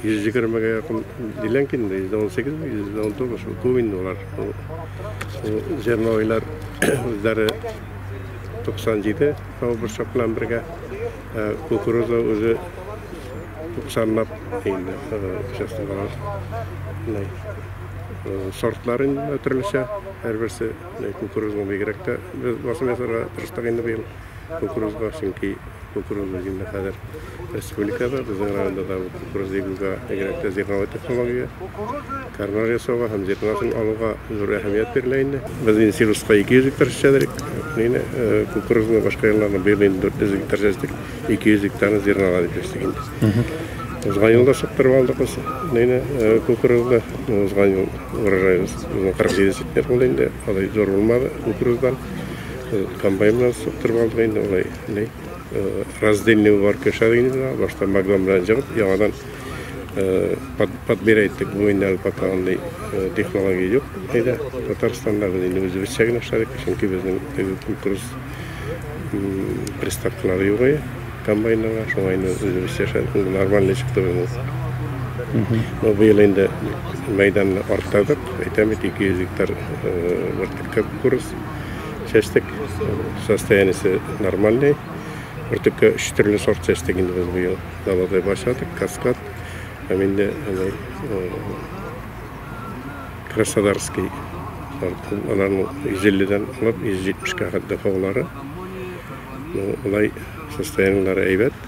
120 га якын диләнг инде, 118 ме, 119 ме, күп инде алар. Зернойлар үзләре 97 борчак белән бергә, кукуруза үзе 90 лап инде, честно говоря. Сортлар инде төрлечә, һәрберсе кукуруза бигрәк тә без басым ясарга тырыштык инде быел. кукурузга, чөнки кукуруз без инде хәзер республикада, безнең районда да бу кукуруз егуга бигрәк тә зерновой технология, кармар ясауга һәм зерносын алуга зур әһәмият бирелә инде. Без инде силуска 200 гектар чәчәдерик. Инде э, кукурузны башка елларны быел инде 400 гектар чәчтек, 200 гектарны зернога дип чәчтек инде. Узган елда сыптырып алдык без инде э, кукурузны. Узган ел урожай 47 центнер булды инде, алай зур булмады кукуруздан. Комбайннан суктырып алдык инде алай. Ни? Раздельный бар кешәр инде. Башта магнум белән җыгып, яңадан подбирать иттек. Бу инде әле пока андый технология юк. Әйдә, Татарстанда без инде үзебезчә генә эшләдек, чөнки безнең теге кукуруз приставкалары юк иде комбайннарга. Шуңа инде үзебезчә эшләдек. Инде нормальный чыкты безнең. Но быел инде мәйданны арттырдык. Әйтәм бит, 200 гектар бер төпкә кукуруз. чәчтек. Состояниесе нормальный. Бөртеккә өч төрле сорт чәчтек инде без быел. Даладай башладык, каскад. Һәм инде аны Краснодарский сортын, аларның 150-дән алып 170-кә хәтле һаулары. Ну, улай состояниеләре әйбәт.